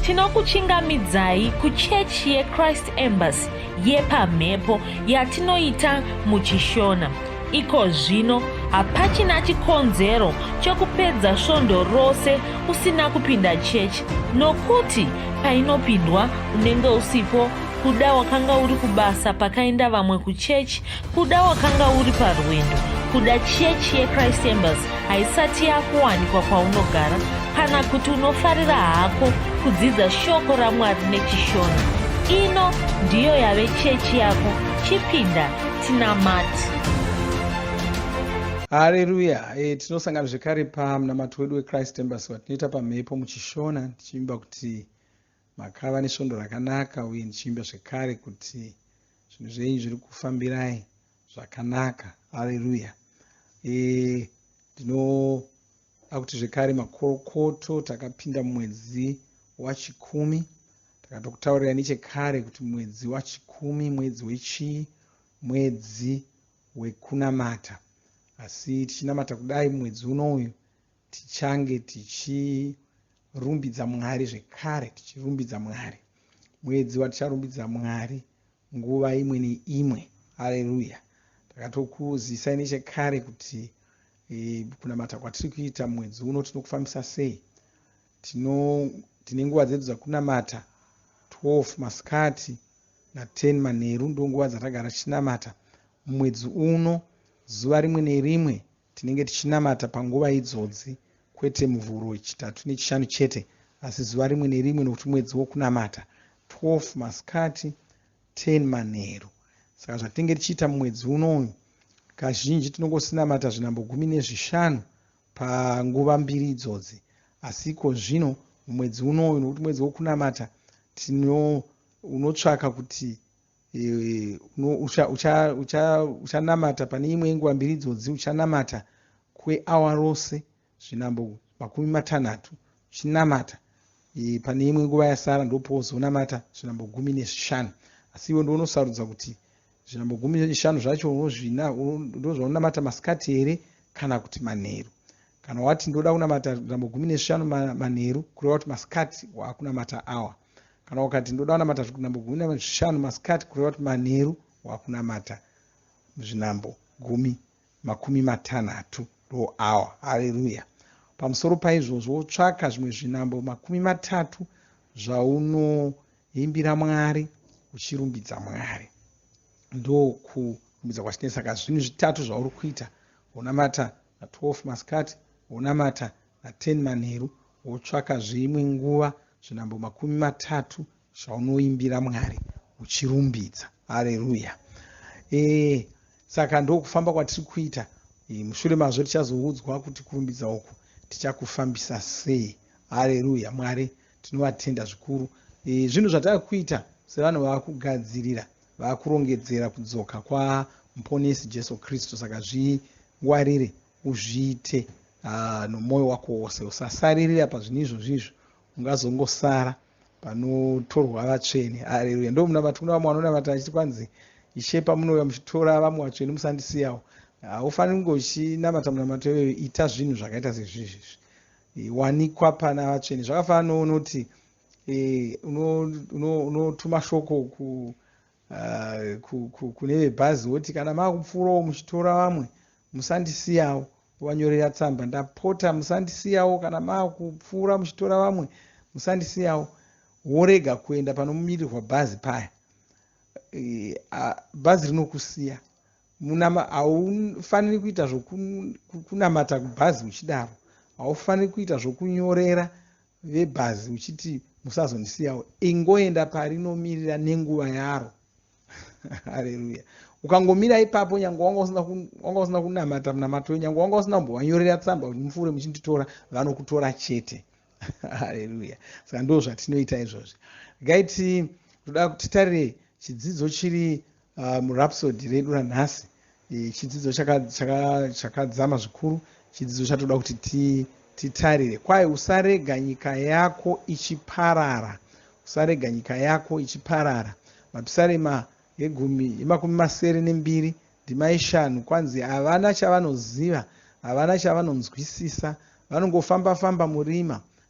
Tinokuchingamidzai kuchechi yeChrist Embassy yepamhepo yatinoita muChishona. Iko zvino hapachina chikonzero chokupedza svondo rose usina kupinda chechi nokuti painopindwa unenge usipo kuda wakanga uri kubasa pakaenda vamwe kuchechi Kuda wakanga uri parwendo kuda chechi yechrist embers haisati yakuwanikwa kwaunogara kana kuti unofarira hako kudzidza shoko ramwari nechishona ino ndiyo yave chechi yako chipinda tinamati hareruya e, tinosangana zvekare pamunamato wedu wechrist embers watinoita pamhepo muchishona tichiimba kuti Makava nesvondo rakanaka uye ndichiimba zvekare kuti zvinhu zvenyu zviri kufambirai zvakanaka. Haleluya. Eh, ndinoda kuti zvekare makorokoto takapinda mumwedzi wachikumi takatokutaurira nechekare kuti mwedzi wachikumi mwedzi wechii mwedzi wekunamata asi tichinamata kudai mwedzi uno uyu tichange tichi rumbidza mwari zvekare tichirumbidza mwari mwedzi waticharumbidza mwari nguva imwe neimwe aleluya takatokuzisai nechekare kuti e, kunamata kwatiri kuita mwedzi uno tinokufambisa sei tino tine nguva dzedu dzakunamata 12 masikati na10 manheru ndonguva dzatagara tichinamata mumwedzi uno zuva rimwe nerimwe Tinenge tichinamata panguva idzodzi, kwete Muvhuro, Chitatu neChishanu chete, asi zuva rimwe nerimwe, nokuti mwedzi wokunamata, 12 masikati, 10 manheru. Saka zvatinenge tichiita mumwedzi uno uyu, kazhinji tinongosinamata zvinhambo gumi nezvishanu panguva mbiri idzodzi. Asi iko zvino, mumwedzi uno uyu, nokuti mwedzi wokunamata, tino, unotsvaka kuti uchanamata pane imwe yenguva mbiri idzodzi uchanamata kweawa rose zvinambo makumi matanhatu uchinamata pane imwe nguva yasara ndopouzonamata zvinambo gumi nezvishanu asi iwe ndounosarudza kuti zvinambo gumi nezvishanu zvacho unozvina ndozvaunamata masikati here kana kuti manheru kana wati ndoda kunamata zvinambo gumi nezvishanu manheru kureva kuti masikati wakunamata awa kana ukati ndoda kunamata zvinambo gumi nezvishanu masikati kureva kuti manheru wakunamata zvinambo gumi makumi matanhatu ndo awa haleluya pamusoro paizvozvo wotsvaka zvimwe zvinambo makumi matatu zvaunoimbira mwari uchirumbidza mwari ndokurumbidza kwachinei saka zvinhu zvitatu zvauri kuita wonamata na12 masikati wonamata na 10 manheru wotsvaka zve imwe nguva zvinambo makumi matatu zvaunoimbira Mwari uchirumbidza. Haleruya. E, saka ndokufamba kwatiri kuita. E, mushure mazvo tichazoudzwa kuti kurumbidza uku tichakufambisa sei. Haleruya. Mwari tinovatenda zvikuru. E, zvinhu zvatava kuita sevanhu vava kugadzirira vava kurongedzera kudzoka kwaMponesi Jesu Kristu. Saka zvingwarire uzviite uh, nomwoyo wako wose usasaririra pazvinhu izvozvi izvo ungazongosara panotorwa vatsvene areruya ndo munamati kuna vamwe vanonamata achiti kwanzi ishe pamunouya muchitora vamwe vatsvene musandisiyawo haufaniri kunge uchinamata munamato iyoyo ita zvinhu zvakaita sezvizvizvi e, wanikwa pana vatsvene zvakafanana nounoti e, unotuma shoko uh, kune vebhazi woti kana maakupfuurawo muchitora vamwe musandisiyawo wanyorera tsamba ndapota musandisiyawo kana maakupfuura muchitora vamwe musandisiyawo worega kuenda panomirirwa bhazi paya eh, bhazi rinokusiya haufaniri kuita zvokunamata kubhazi uchidaro haufaniri kuita zvokunyorera vebhazi uchiti musazondisiyawo ingoenda parinomirira nenguva yaro hareruya ukangomira ipapo nyange wanga usina kunamata munamato uyo nyange wanga usina kumbovanyorera tsamba kuti mupfuure muchinditora vanokutora chete hareruya saka ndo zvatinoita izvozvi gaiti toda titarire chidzidzo chiri Ah, murapsody redu ranhasi eh, chidzidzo chakadzama zvikuru chidzidzo chatoda kuti titarire kwaye usarega nyika yako ichiparara usarega nyika yako ichiparara mapisarema egumi emakumi masere nembiri ndima yeshanu kwanzi havana chavanoziva havana chavanonzwisisa vanongofamba famba murima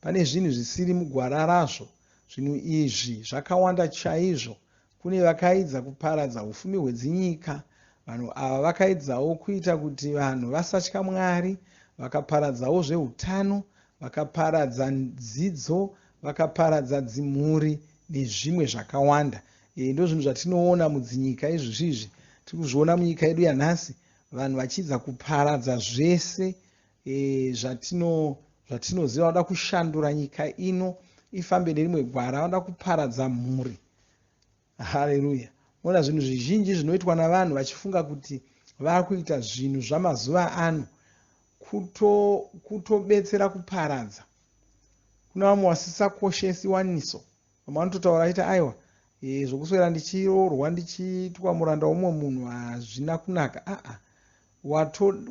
Pane zvinhu zvisiri mugwara razvo. Zvinhu izvi zvakawanda chaizvo. Kune vakaidza kuparadza ufumi hwedzinyika. Vanhu ava vakaidzawo kuita kuti vanhu vasatya Mwari. Vakaparadzawo zveutano, vakaparadza dzidzo, vakaparadza dzimhuri nezvimwe zvakawanda. E, ndozvinhu zvatinoona mudzinyika izvizvi. Tiri kuzviona munyika yedu yanhasi vanhu vachiidza kuparadza zvese e, zvatino zvatinoziva vanoda kushandura nyika ino ifambe nerimwe gwara vanoda kuparadza mhuri haleluya moona zvinhu zvizhinji zvinoitwa navanhu vachifunga kuti vakuita zvinhu zvamazuva ano kutobetsera kuto kuparadza kuna vamwe wasisakoshesi waniso Vamwe vanototaura vachiti aiwa e, zvokuswera ndichiroorwa ndichiitwa muranda womumwe munhu hazvina kunaka. Aa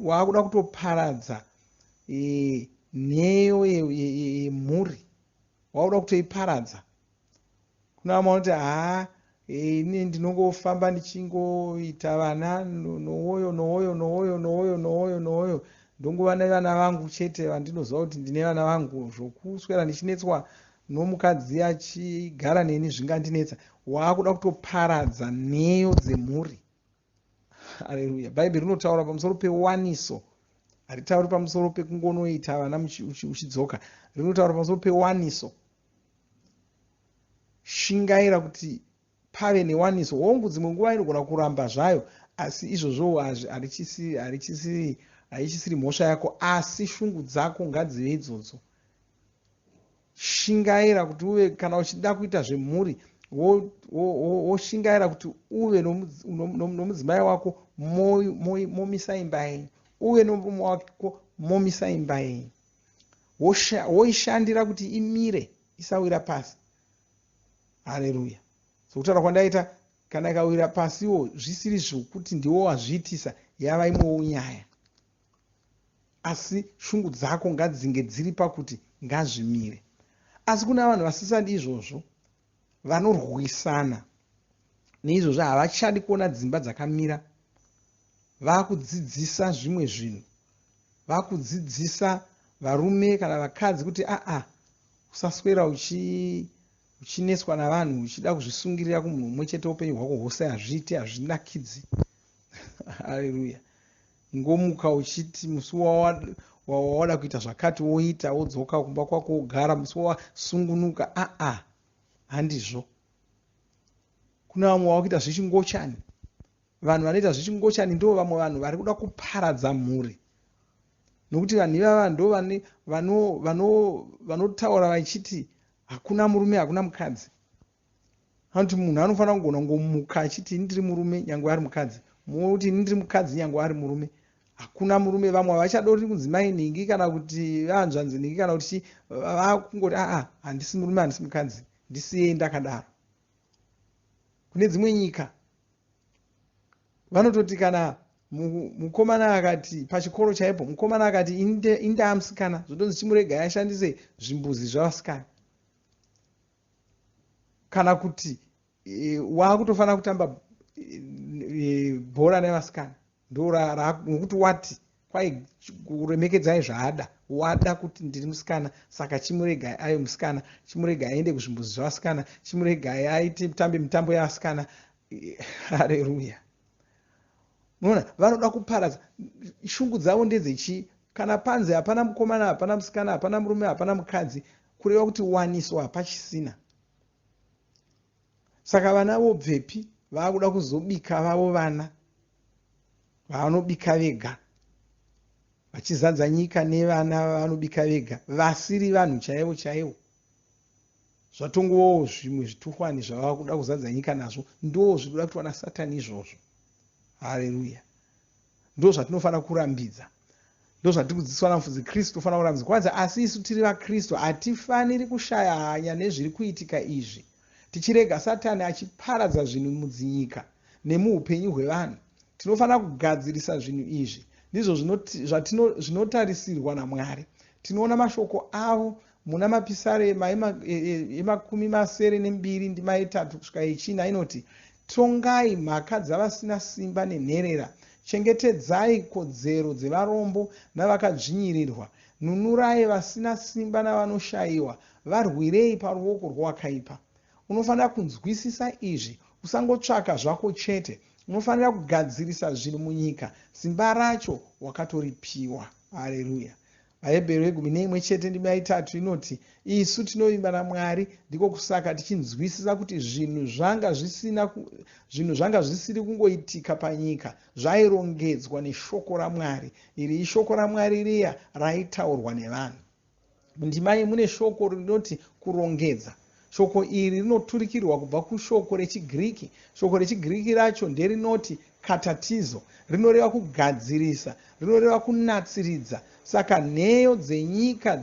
waakuda kutoparadza e, nheyo yemhuri ye, ye, ye, waakuda kutoiparadza. Kuna vamwe vanoti haa Eh, ini ndinongofamba ndichingoita vana nowoyo nowoyo nowoyo nowoyo nowoyo nowoyo ndongova nevana vangu chete vandinoziva kuti ndine vana vangu zvokuswera ndichinetswa nomukadzi achigara neni zvingandinetsa waakuda kutoparadza nheyo dzemhuri aleluya bhaibheri rinotaura pamusoro pewaniso haritauri pamusoro pekungonoita vana uchidzoka rinotaura pamusoro pewaniso shingaira kuti pave newaniso hongu dzimwe nguva inogona kuramba zvayo asi izvozvowo haichisiri mhosva yako asi shungu dzako ngadzive idzodzo Shingaira kuti uve kana uchida kuita zvemhuri woshingaira kuti uve nomudzimai wako momisa imba yenyu uve nomurume wako momisa imba yenyu woishandira kuti imire isawira pasi hareruya sokutaura kwandaita kana ikawira pasiwo zvisiri zvokuti ndiwo wazviitisa yava imwewo nyaya asi shungu dzako ngadzinge dziri pakuti ngazvimire asi kuna vanhu vasisadi izvozvo vanorwisana neizvozvo havachadi kuona dzimba dzakamira vakudzidzisa zvimwe zvinhu vakudzidzisa varume kana vakadzi kuti aa ah, ah, usaswera uchi uchineswa navanhu uchida kuzvisungirira kumunhu umwe chete upenyu hwako hwose hazviiti hazvinakidzi haleluya kungomuka uchiti musi wawada kuita zvakati woita wodzoka kumba kwako wogara musi wawasungunuka aa handizvo kune vamwe vava kuita zvechingochani vanhu vanoita zvechingochani ndo vamwe vanhu vari kuda kuparadza mhuri nokuti vanhu ivava ndo vanotaura vachiti hakuna murume hakuna mukadzi hanti munhu anofanira kugona kungomuka achiti ini ndiri murume nyange ari mukadzi mumwe kuti ini ndiri mukadzi nyange ari murume hakuna murume vamwe havachadori kunzi mai nhingi kana kuti vaanzvanzi nhingi kana kuti chii vakungoti aa handisi murume handisi mukadzi ndisiyei ndakadaro kune dzimwe nyika vanototi kana mukomana akati pachikoro chaipo mukomana akati indaa musikana zvotonzi chimuregai ashandise zvimbuzi zvavasikana kana kuti e, waakutofanira kutamba e, bhora nevasikana ndo nokuti wati kwai kuremekedzai zvaada wada kuti ndiri musikana saka chimuregai ayo musikana chimuregai aende kuzvimbuzi zvevasikana chimuregai aite tambe mitambo yevasikana hareruya muona vanoda kuparadza shungu dzavo ndedzechii kana panzi hapana mukomana hapana musikana hapana murume hapana mukadzi kureva kuti waniso hapachisina saka vana vobvepi vaakuda kuzobika vavo vana vavanobika vega vachizadza nyika nevana vavanobika vega vasiri vanhu chaivo chaivo zvatongovawo zvimwe zvituhwani zvavava kuda kuzadza nyika nazvo ndo zviri kuda kuti wana satani izvozvo hareruya ndo zvatinofanira kurambidza Ndozvatiri kudzidziswa naMufudzi Kristu, tofanira kuratidza kuratidza. Asi isu tiri vaKristu hatifaniri kushaya hanya nezviri kuitika izvi, tichirega Satani achiparadza zvinhu mudzinyika nemuupenyu hwevanhu. Tinofanira kugadzirisa zvinhu izvi. Ndizvo zvinotarisirwa naMwari. Tinoona mashoko avo Muna Mapisare yema yemakumi masere nembiri ndima yetatu kusvika yechina inoti, Tongai mhaka dzavasina simba nenherera, chengetedzai kodzero dzevarombo navakadzvinyirirwa, nunurai vasina simba navanoshayiwa, varwirei paruoko rwowakaipa. Unofanira kunzwisisa izvi, usangotsvaka zvako chete, unofanira kugadzirisa zvinhu munyika, simba racho wakatoripiwa. Hareruya! VaHebheru vegumi neimwe chete ndima yaitatu inoti, Isu tinovimba naMwari, ndiko kusaka tichinzwisisa kuti zvinhu zvanga zvisina zvinhu zvanga zvisiri kungoitika panyika, zvairongedzwa neshoko raMwari. Iri ishoko raMwari riya raitaurwa nevanhu. Mundima iyi mune shoko rinoti kurongedza. Shoko iri rinoturikirwa kubva kushoko rechiGiriki. Shoko rechiGiriki racho nderinoti katatizo, rinoreva kugadzirisa, rinoreva kunatsiridza. Saka nheyo dzenyika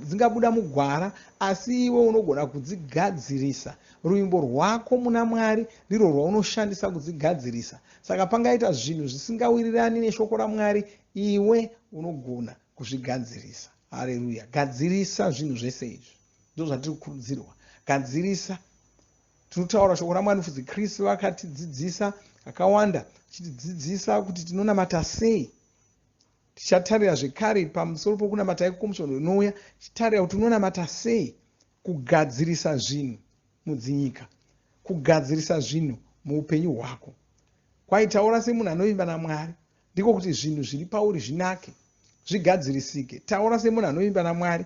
dzingabuda mugwara, asi iwe unogona kudzigadzirisa. Ruvimbo rwako muna Mwari ndirwo rwaunoshandisa kudzigadzirisa. Saka pangaita zvinhu zvisingawirirani neshoko raMwari, iwe unogona kuzvigadzirisa. Hareruya! Gadzirisa zvinhu zvese izvi. ndozvatiri kukurudzirwa gadzirisa tinotaura shoko ramwari nofudzi kristu vakatidzidzisa kakawanda achitidzidzisa kuti tinonamata sei tichatarira zvekare pamusoro pokunamata iko kwomusvondo inouya tichatarira kuti unonamata sei kugadzirisa zvinhu mudzinyika kugadzirisa zvinhu muupenyu hwako kwaitaura semunhu anovimba namwari ndiko kuti zvinhu zviri pauri zvinake zvigadzirisike taura semunhu anovimba namwari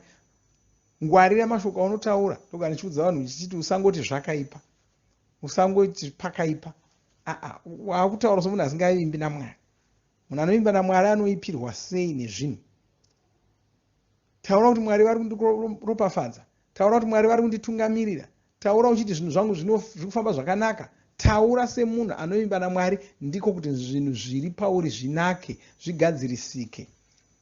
ngwarira mashoko aunotaura ndogara ndichiudza vanhu ndichiti usangoti zvakaipa usangoti pakaipa aa waakutaura somunhu asingavimbi namwari munhu anovimba namwari anoipirwa sei nezvinhu taura kuti mwari vari kundiropafadza taura kuti mwari vari kunditungamirira Taura uchiti zvinhu zvangu zvino zviri kufamba zvakanaka. Taura semunhu anovimba naMwari ndiko kuti zvinhu zviri pauri zvinake, zvigadzirisike.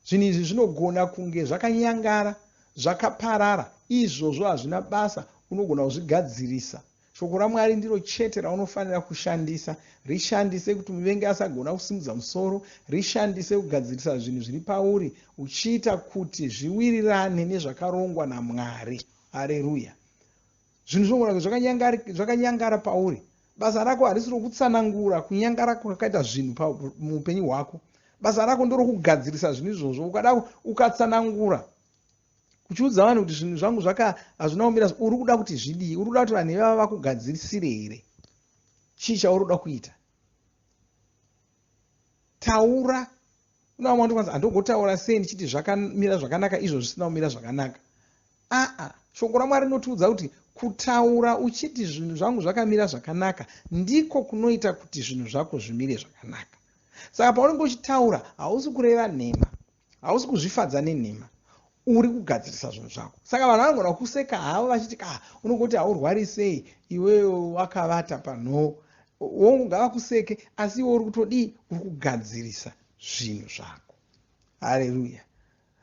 Zvinhu izvi zvinogona kunge zvakanyangara, zvakaparara, izvozvo hazvina basa, unogona kuzvigadzirisa. Shoko raMwari ndiro chete raunofanira kushandisa. Rishandise kuti muvengi asagona kusimudza musoro, rishandise kugadzirisa zvinhu zviri pauri uchiita kuti zviwirirane nezvakarongwa naMwari. Areruya! zvinhu zvinogona kunge zvakanyangara pauri basa rako harisi rokutsanangura kunyangara kwakaita zvinhu muupenyu hwako basa rako ndorokugadzirisa zvinhu izvozvo ukada ukatsanangura uchiudza vanhu kuti zvinhu zvangu zvaka hazvina kumira uri kuda kuti zvidii uri kuda kuti vanhu ivava vakugadzirisire here chii chauri kuda kuita taura unaamauti kwanzi andogotaura sei ndichiti zvakamira zvakanaka izvo zvisina kumira zvakanaka aa shoko ramwari rinotiudza kuti kutaura uchiti zvinhu zvangu zvakamira zvakanaka ndiko kunoita kuti zvinhu zvako zvimire zvakanaka saka paunenge uchitaura hausi kureva nhema hausi kuzvifadza nenhema uri kugadzirisa zvinhu zvako saka vanhu vanogona kuseka havo vachiti ka ah, unongoti haurwari sei iwewe wakavata panhoo wongu ngavakuseke asi iwe uri kutodii uri kugadzirisa zvinhu zvako hareruya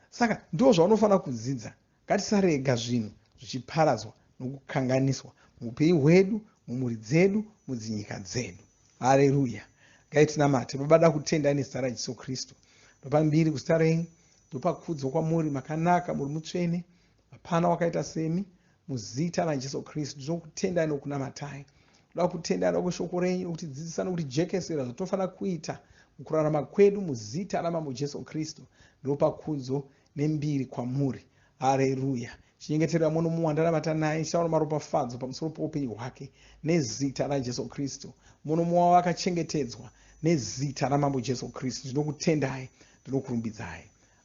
saka ndo zvaunofanira kudzidza Ngatisarega zvinhu zvichiparadzwa nokukanganiswa muupenyu hwedu, mumhuri dzedu, mudzinyika dzedu. Hareruya! Ngaitinamate. Baba, ndakutendai nezita raJesu Kristu. Ndopa mbiri kuzita renyu. Ndopa kudzo kwamuri, makanaka, muri mutsvene. Hapana wakaita semi. Muzita raJesu Kristu, ndinokutendai nokunamatai. Ndoda kutendai nokuti shoko renyu nokutidzidzisa nokutijekesera zvatinofanira kuita mukurarama kwedu muzita raMambo Jesu Kristu. Ndopa kudzo nembiri kwamuri. Hareruya! Chinyengeterera muno mumwe wandanamata naye, ndichitaura maropafadzo pamusoro poupenyu hwake nezita raJesu Kristu. Muno mumwe wavo akachengetedzwa nezita raMambo Jesu Kristu. Ndinokutendai, ndinokurumbidzai.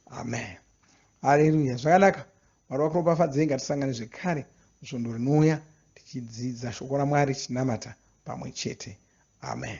Amen. Hareruya! Zvakanaka, Mwari vakuropafadzei. Ngatisangane zvekare musvondo rinouya tichidzidza shoko raMwari tichinamata pamwe chete. Amen.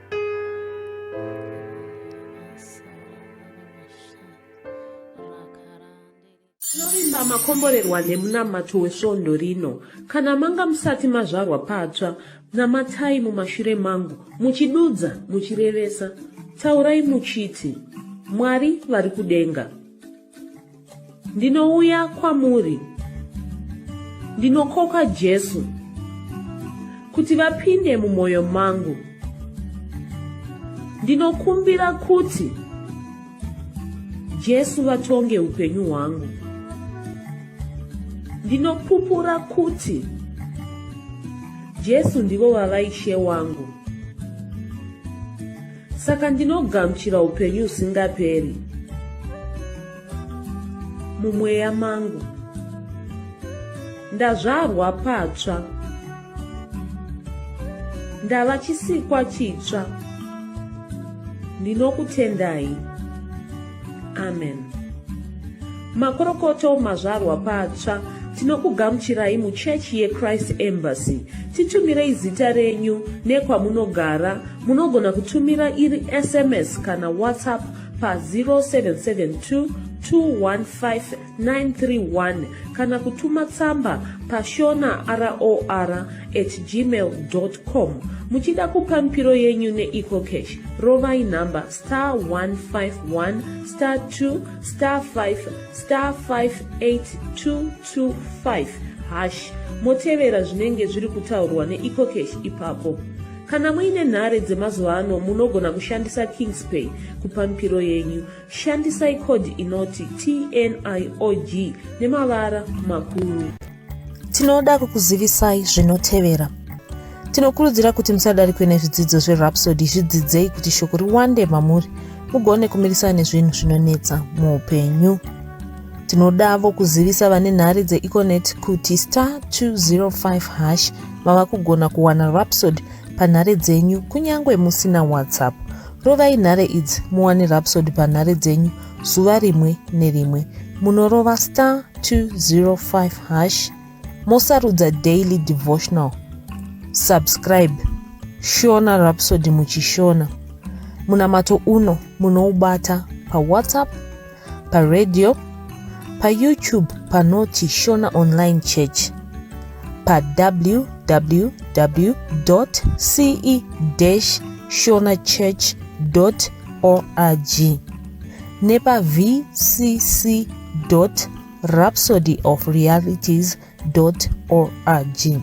tinovimba makomborerwa nemunamato wesvondo rino kana manga musati mazvarwa patsva namatai mumashure mangu muchidudza muchirevesa taurai muchiti mwari vari kudenga ndinouya kwamuri ndinokoka jesu kuti vapinde mumwoyo mangu ndinokumbira kuti jesu vatonge upenyu hwangu ndinopupura kuti jesu ndivo vava ishe wangu saka ndinogamuchira upenyu usingaperi mumweya mangu ndazvarwa patsva ndava chisikwa chitsva ndinokutendai amen makorokoto mazvarwa patsva tinokugamuchirai muchechi yechrist embassy titumirei zita renyu nekwamunogara munogona kutumira iri sms kana whatsapp pa 0772 215 931 kana kutuma tsamba pashona ror at gmail com muchida kupa mipiro yenyu neecocash rovai nhamba star 151 star 2 star 5 star 58225 hash motevera zvinenge zviri kutaurwa neecocash ipapo kana muine nhare dzemazuva ano munogona kushandisa kingspay kupa mipiro yenyu Shandisai code inoti TNIOG nemavara makuru. Tinoda kukuzivisai zvinotevera. Tinokurudzira kuti musadarikwe nezvidzidzo zveRhapsody zvidzidzei kuti shoko riwande mamuri mugone kumirisana nezvinhu zvinonetsa muupenyu. Tinodavo kuzivisa vane nhare dzeEconet kuti star 205 hash mava kugona kuwana Rhapsody panhare dzenyu kunyange musina WhatsApp. Rovai nhare idzi muwane Rhapsody panhare dzenyu zuva rimwe nerimwe. Munorova star 205 hash mosarudza daily devotional. Subscribe Shona Rhapsody muchishona. Munamato uno munoubata paWhatsApp paradio payoutube panoti shona online church pawww ce shona church org nepavcc rhapsody of realities org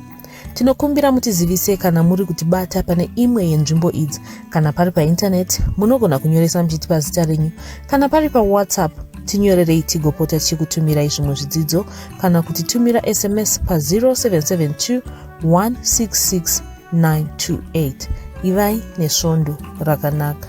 tinokumbira mutizivise kana muri kutibata pane imwe yenzvimbo idzi kana pari paintaneti munogona kunyoresa muchiti pazita renyu kana pari pawhatsapp tinyorerei tigopota tichikutumirai zvimwe zvidzidzo kana kuti tumira sms pa0772 166 928 ivai nesvondo rakanaka